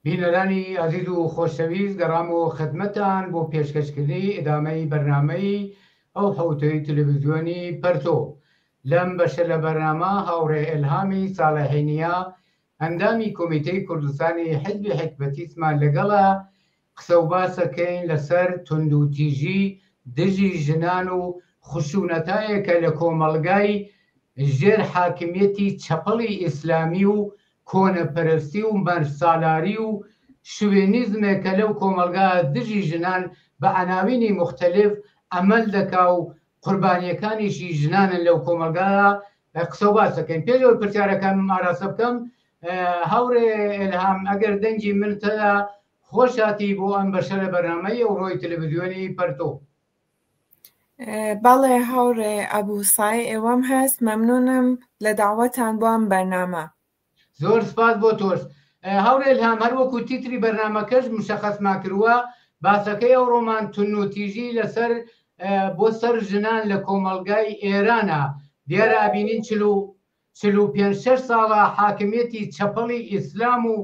بینەرانی ئازیز و خۆشەویست گەڕامەوە خدمەتان بۆ پێشکەشکردنی ئیدامەی بەرنامەی ئەو حوتەی تلویزیۆنی پەرتۆ لەم بەشە لە بەرنامە هاوڕێ ئەلهامی ساڵەحینیا ئەندامی کۆمیتەی کوردستانی حزبی حکبەتیسمان لەگەڵە قسە و باسەکەین لەسەر توندوتیژی دژی ژنان و خشونەتایەکە لە کۆمەڵگای ژێر حاکمیەتی چەپەڵی ئیسلامی و کۆنەپەرستی و مەرسالاری و شوێنیزمێک کە لەو کۆمەڵگایە دژی ژنان بە عەناوینی موختەلیف عەمەل دەکا و قوربانیەکانیشی ژنانن لەو کۆمەڵگایە قسە و باسەکەین پێش ئەوەی پرسیارەکانم ئاراستە بکەم هاوڕێ ئێلهام ئەگەر دەنگی من تەدا خۆشهاتی بۆ ئەم بەشە لە بەرنامەی ئەوڕۆی تەلەڤزیۆنی پەرتۆ. بەڵێ هاوڕێ ئەبوو سای ئێوەم هەست مەمنونم لە داوەتان بۆ ئەم بەرنامە زۆر سپاس بۆ تۆش هاوڕێ هەم هەر وەکو تیتری بەرنمەکەش مشەخەسما کردووە باسەکەی ئەو ڕۆمان تون و تیژی لەسەر بۆ سەر ژنان لە کۆمەلگای ئێرانە دیارە ئابینین چلو چل و پێنج شەش ساڵە حاکمیەتی چەپەڵی ئیسلام و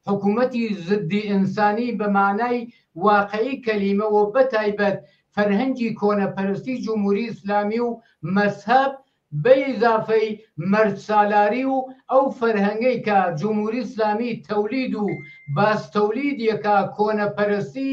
حکومەتی زدی ئینسانی بە مانای واقعی کەلیمە و بە تایبەت فەرهەنگی کۆنەپەرستی جمهوری ئیسلامی و مەزهەب بە ئیزافەی مەرد سالاری و ئەو فەرهەنگەی کە جمهوری ئیسلامی تەولید و باز تەولید یەکا کۆنەپەرستی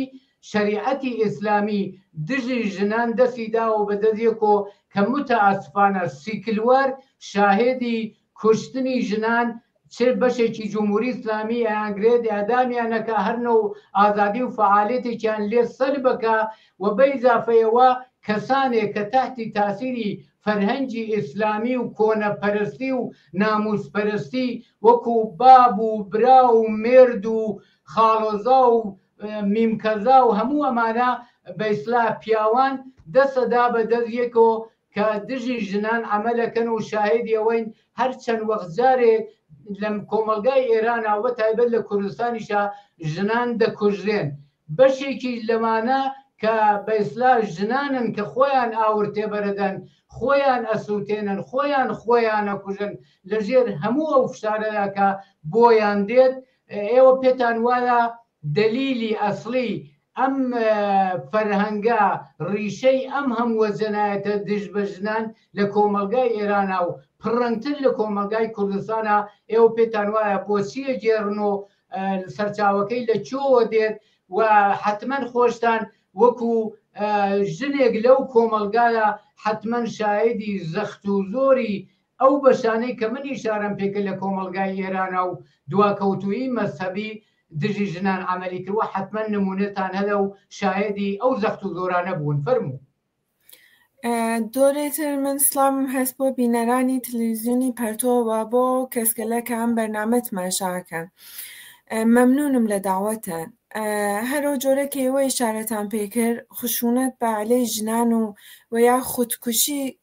شەریعەتی ئیسلامی دژی ژنان دەسی داوە بە دەزیەکۆ کە موتەئاسفانە سیکلوەر شاهێدی کوشتنی ژنان چ بەشێکی جمهوری ئیسلامی ئەیانگرێت ئیعدامیان ئەکا هەر نەو ئازادی و فەعالێتێکیان لێ سەلب ئەکا و بە ئیزافەیەوە کەسانێک کە تەحتی تاسیری فەرهەنگی ئیسلامی و کۆنە پەرستی و ناموس پەرستی وەکو باب و برا و مێرد و خاڵۆزا و میم کەزا و هەموو ئەمانە بە ئیسلاح پیاوان دەسە دا بە دەس یەکۆ کە دژی ژنان عەمەلەکەن و شاهێدی ئەوەین هەر چەند وەخت جارێ لە کۆمەڵگای ئێرانا وە تایبەت لە کوردستانیشا ژنان دەکوژرێن بەشێکی لەمانە کە بە ئیسلاح ژنانن کە خۆیان ئاور تێبەرەدەن خۆیان ئەسوتێنن خۆیان خۆیان ئەکوژن لە ژێر هەموو ئەو فشارەدا کە بۆیان دێت ئێوە پێتان وایە دەلیلی ئەسڵی ئەم فەرهەنگە ڕیشەی ئەم هەمووە جەنایەتە دژ بە ژنان لە کۆمەڵگای ئێرانە و پڕەنگتر لە کۆمەڵگای کوردستانە ئێوە پێتان وایە بۆچیە گێڕن و سەرچاوەکەی لە چۆوە دێت و حتمما خۆشتان وەکو ژنێک لەو کۆمەلگایە حتمما شایدی زەخت و زۆری ئەو بەشانەی کە من ئیشارەم پێکرد لە کۆمەڵگای ئێرانا و دواکەوتوویی مەزهەبی دژی ژنان عەمەلی کردووە، حەتمەن نموونەتان هەلە و شایەدی ئەو زەخت و زۆرانە بوون. فەرموو. جۆرێ تر من سڵاوم هەست بۆ بینەرانی تلویزیونی پەرتۆ و بۆ کەسگەلە کە ئەم بەرنامە تماشا ئەکەن. مەمنونم لە داوەتان. هەرو جۆرە کە ئێوە ئیشارەتان پێ کرد خشونەت بە عەلەی ژنان و و یا خودکوشی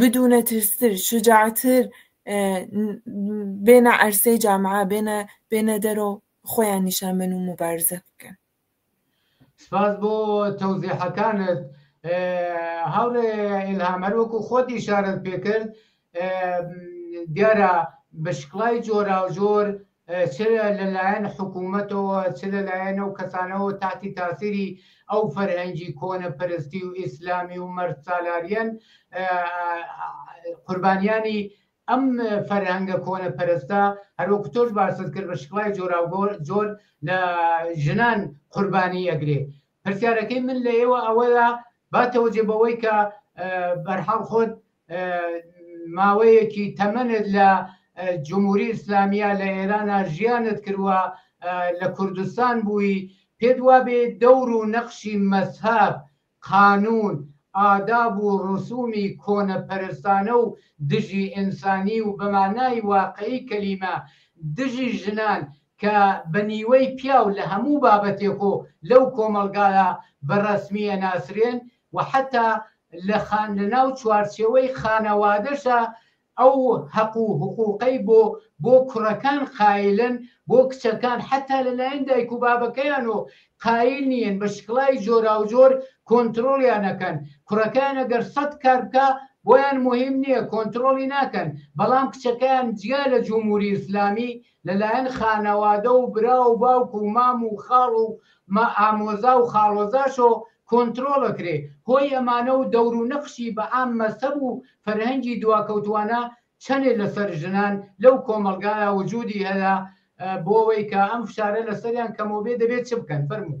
بدونە ترستر شجاعتر بێنە عەرسەی جامعە بێنە بێنە دەرۆ خۆیان نیشان بەن و مبارزە بکەن سپاس بۆ تەوزیحەکانت هاوڕێ ئیلهام هەر وەکو خۆت ئیشارەت پێکرد دیارە بە شکڵای جۆراوجۆر چ لە لایەن حکوومەتەوە، چ لە لایەن ئەو کەسانەوە تاتی تاسیری ئەو فەرهەنگی کۆنەپەرستی و ئیسلامی و مەردسالاریەن، قوربانیانی ئەم فەرهەنگە کۆنەپەرستە، هەر وەکو تۆش باست کرد بە شکڵای جۆراوجۆر لە ژنان قوربانی ئەگرێ. پرسیارەکەی من لە ئێوە ئەوەیە با تەوجێ بەوەی کە بەرحاڵ خۆت ماوەیەکی تەمەنت لە جموری ئیسلامیە لە ئێرانا ژیانت کروە لە کوردستان بووی پێت وابێ دەور و نەخشی مەزهەب قانون ئاداب و ڕسومی کۆنە پەرستانە و دژی ئنسانی و بە مانای واقعی کەلیمە دژی ژنان کە بە نیوەی پیاو لە هەموو بابەتێکۆ لەو کۆمەڵگایە بە ڕەسمی ئەناسرێن و حەتا لە خان لەناو چوارچێوەی خانەوادەشا ئەو هەق و حقوقەی بۆ بۆ کوڕەکان قایلن بۆ کچەکان حەتا لەلایەن دایک و بابەکەیانۆ قایل نیەن بە شکڵای جۆراوجۆر کۆنترۆڵیان نەکەن کوڕەکان ئەگەر سەد کار بکا بۆیان مهم نییە کۆنترۆڵی ناکەن بەڵام کچەکەیان جیا لە جمهوری ئیسلامی لە لایەن خانەوادە و برا و باوک و مام و خاڵ و مە ئامۆزا و خاڵۆزاشۆ کۆنترۆڵ ئەکرێ، هۆی ئەمانە و دەور و نەخشی بە عام مەزهەب و فەرهەنگی دواکەوتوانە چەنێ لە سەر ژنان لەو کۆمەڵگایا وجودی هەیە بۆ ئەوەی کە ئەم فشارە لە سەریان کەمۆبێ دەبێ چ بکەن؟ فەرموو.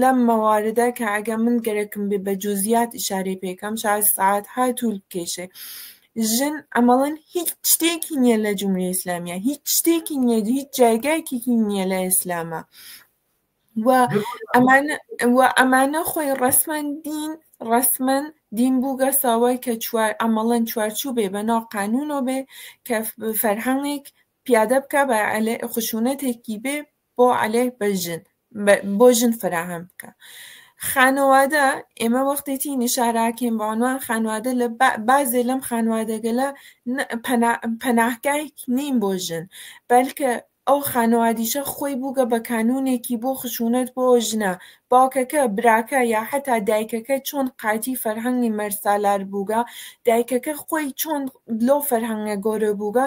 لەم مەواردە کە ئەگە من گەرەکم بێ بە جوزیات ئیشارەی پێ کەم شاز سەعات ها توول بکێشێ ژن ئەمەڵن هیچ شتێکی نییە لە جمهوری ئیسلامیە هیچ شتێکی نییە هیچ جایگایکێکی نییە لە ئیسلامە و ئەمانە و ئەمانە خۆی ڕسمەن دین ڕسمەن دین بووگە ساوای کە چوار ئەمەڵەن چوارچوو بێ بە ناو قانونۆ بێ کە فەرهەنگێک پیادە بکە بە خشونەتێکی بێ بۆ عەلەه بە ژن بۆ ژن فەراهەم بکە خانوادە ئێمە وەختێتی نیشاراکەین بە عنوان خانوادە لە بازێ لەم خانوادەگەلە پەناهگایک نین بۆ ژن بەلکە ئەو خانوادیشە خۆی بووگە بە کانونێکی بۆ خشونەت بۆ ژنە باوکەکە براکە یا حتا دایکەکە چۆن قاتی فەرهەنگی مەرسالار بووگە دایکەکە خۆی چۆن لۆ فەرهەنگە گەورە بووگە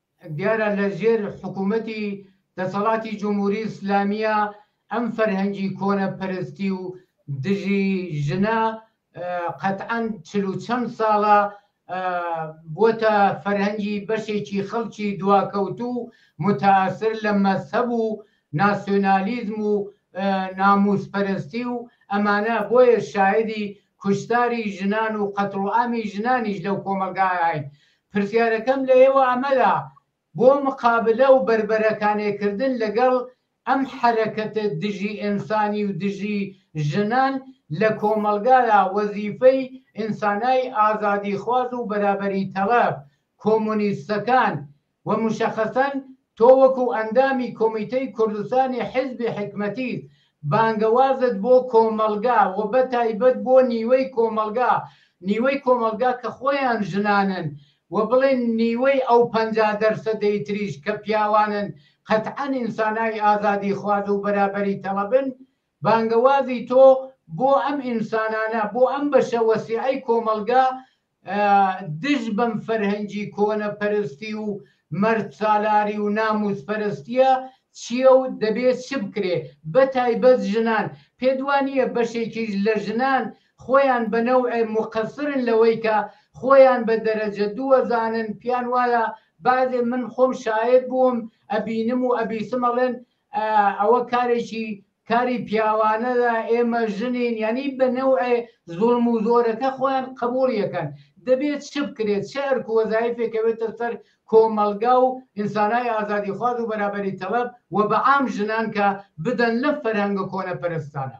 دیارە لە ژێر حکوومەتی دەسەڵاتی جمهوری ئیسلامییە ئەم فەرهەنگی کۆنە پەرستی و دژی ژنە قەتعەن چل و چەند ساڵە بۆتە فەرهەنگی بەشێکی خەڵکی دواکەوتوو و متاثر لە مەزهەب و ناسیۆنالیزم و نامووسپەرستی و ئەمانە بۆیە شایدی کوشتاری ژنان و قەتڵوعامی ژنانیش لەو کۆمەڵگایە هەین، پرسیارەکەم لە ئێوە ئەمەدا بۆ مقابلە و بەربەرەکانێ کردن لەگەڵ ئەم حەرەکەتە دژی ئێنسانی و دژی ژنان لە کۆمەڵگادا وەزیفەی ئینسانای ئازادیخواز و بەرابەری تەڵەب کۆمۆنیستەکان و مشخصا تۆ وەکو ئەندامی کۆمیتەی کوردستانی حیزبی حیکمەتیت بانگەوازت بۆ کۆمەڵگا و بەتایبەت بۆ نیوەی کۆمەڵگا نیوەی کۆمەڵگا کە خۆیان ژنانن و بڵێن نیوەی ئەو پەنجا دەرسەدەی تریش کە پیاوانن قەتعەن ئینسانای ئازادی خواز و بەرابەری تەڵەبن بانگەوازی تۆ بۆ ئەم ئینسانانە بۆ ئەم بەشە وەسیعەی کۆمەڵگا دژ بەم فەرهەنگی کۆنە پەرستی و مەرد سالاری و ناموس پەرستیە چیە و دەبێ چ بکرێ بە تایبەت ژنان پێت وانیە بەشێکیش لە ژنان خۆیان بە نەوعێ موقەسرن لەوەی کە خۆیان بە دەرەجە دوو ئەزانن پیان وایە بەعزێ من خۆم شایەد بووم ئەبینم و ئەبیسم ئەڵێن ئەوە کارێکی کاری پیاوانەدا ئێمە ژنین یانی بە نەوعێ زوڵم و زۆرەکە خۆیان قەبوڵی ئەکەن دەبێ چ بکرێت چ ئەرک و وەزایفێک ئەوێتە سەر کۆمەڵگا و ئینسانای ئازادیخواز و بەرابەری تەڵەب و بە عام ژنان کە بدەن لەم فەرهەنگە کۆنە پەرستانە.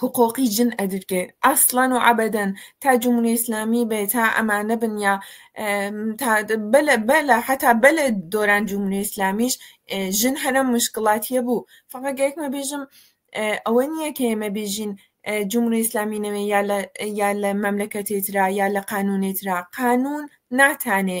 حقوقی جن ئەدرکێ ئەسڵەن و عەبەدەن تا جمهوری ئیسلامی بێ تا ئەمانە بن یا بەلە حتا بەلە دۆران جمهوری ئیسلامیش ژن هەرە مشکڵاتیە بوو فقط گەکمە بێژم ئەوە نییە کە ئێمە بێژین جمهوری ئیسلامی نەوێ یا لە مەملەکەتێترا یا لە قانونێترا قانون ناتانێ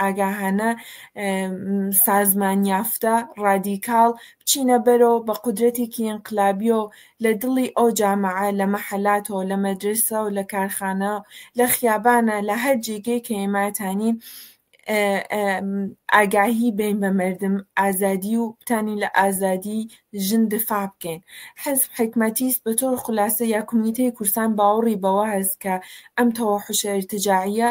ئاگاهانە، سازمان یافتە، ڕادیکاڵ، بچینە بەرەوە بە قودرەتێکی ئینقلابیەو لە دڵی ئەو جامعە، لە مەحەلاتەو، لە مەدرەسەو، لە کارخانە، لە خیابانە، لە هەر جێگەی کە ئێماتانین ئاگاهی بین بە مەردم ئازادی و بتانین لە ئازادی ژن دفاع بکەین. حزب حکمەتیس بە تۆر خولاسە یا کومیتەی کورسان باوەڕی بەوە هەس کە ئەم تەوەحوشە ئیرتجاعیە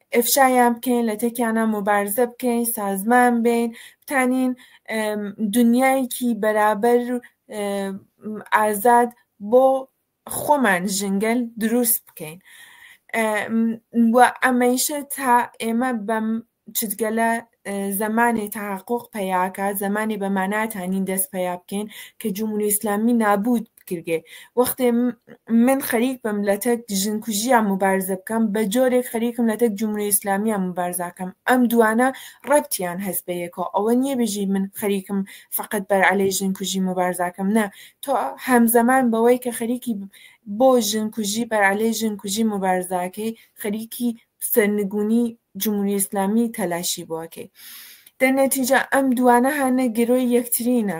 ئەفشایان بکەین لە تەکیانە مبارزە بکەین سازمان بین بتانین دنیایەکی بەرابەر ئازاد بۆ خۆمان ژنگەل دروست بکەین و ئەمەیشە تا ئێمە بەم چتگەلە زمانی تحقق پیاکە زمانی بە ماناتانین دەست پیا بکەین کە جمهوری ئیسلامی نابود کردگێ وەختێ من خەریک بم لە تەک ژن کوژیان مبارزە بکەم بە جۆرێک خەریکم لە تەک جمهوری ئیسلامیان مبارزاکەم ئەم دوانە ڕەبتیان هەست بە یەکەوە ئەوە نییە بژی من خەریکم فقط بەر عەلەی ژن کوژی مبارزاکەم نە تۆ هەمزەمان بەوەی کە خەریکی بۆ ژن کوژی بەر عەلەی ژن کوژی مبارزاکەی خەریکی سەرنگونی جمهوری ئیسلامی تەلاشی بۆکەی دە نەتیجە ئەم دوانە هانە گرۆی یەکترینە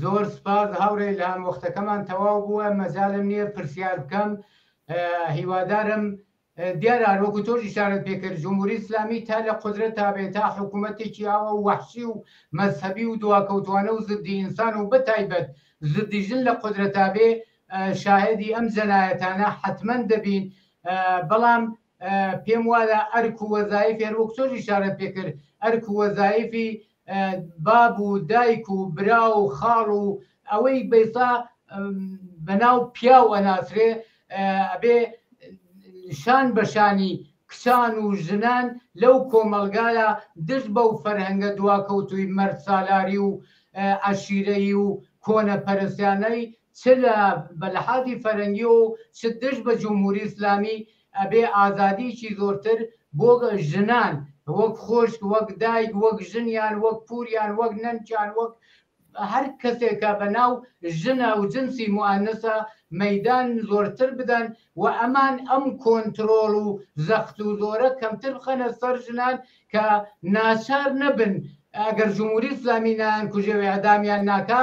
زۆر سپاس هاوڕێ ئیلهام وەختەکەمان تەواو بووە مەجالم نییە پرسیار بکەم هیوادارم دیارە هەروەکو تۆش ئشارەت پێکرد جمهوری ئسلامی تا لە قدرە تابێت تا حکوومەتێکی ئاوە و وحشی و مەذهبی و دواکەوتوانە و زدی ئینسان و بەتایبەت زدیژن لە قدرە تابێ شاهدی ئەم جەنایەتانە حتمما دەبین بەڵام پێم وایە ئەرک و وەزایفی هەر وەک تۆش ئیشارەت پێ کرد، ئەرک و وەزایفی باب و دایک و برا و خاڵ و ئەوەی بە ئێستا بە ناو پیاو ئەناسرێ ئەبێ شان بە شانی کچان و ژنان لەو کۆمەڵگایە دژ بەو فەرهەنگە دواکەوتووی مەرد سالاری و عەشیرەیی و کۆنەپەرستیانەی چ لە بە لەحازی فەرەنگیەوە و چ دژ بە جمهوری ئیسلامی، ئەبێ ئازادیەکی زۆرتر بۆ ژنان وەک خۆشک، وەک دایک، وەک ژن یان وەک پور یان وەک نەنک یان وەک هەر کەسێک کە بە ناو ژنە و جنسی موئەنەسە مەیدان زۆرتر بدەن و ئەمان ئەم کۆنترۆڵ و زەخت و زۆرە کەمتر بخەنە سەر ژنان کە ناچار نەبن ئەگەر جمهوری ئیسلامی نایانکوژێ و ئێعدامیان ناکا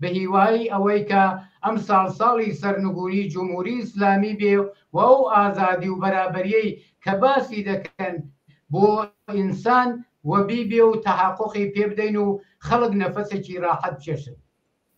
بەهیوایی ئەوەی کە ئەمساڵ ساڵی سەرنگووری جمهوری ئیسلامی بێ و ئەو ئازادی و بەرابەریەی کە باسی دەکەن بۆ ئینسان وەبی بێ و تەحەقوقی پێبدەین و خەڵک نەفەسێکی راحەت بچێشن.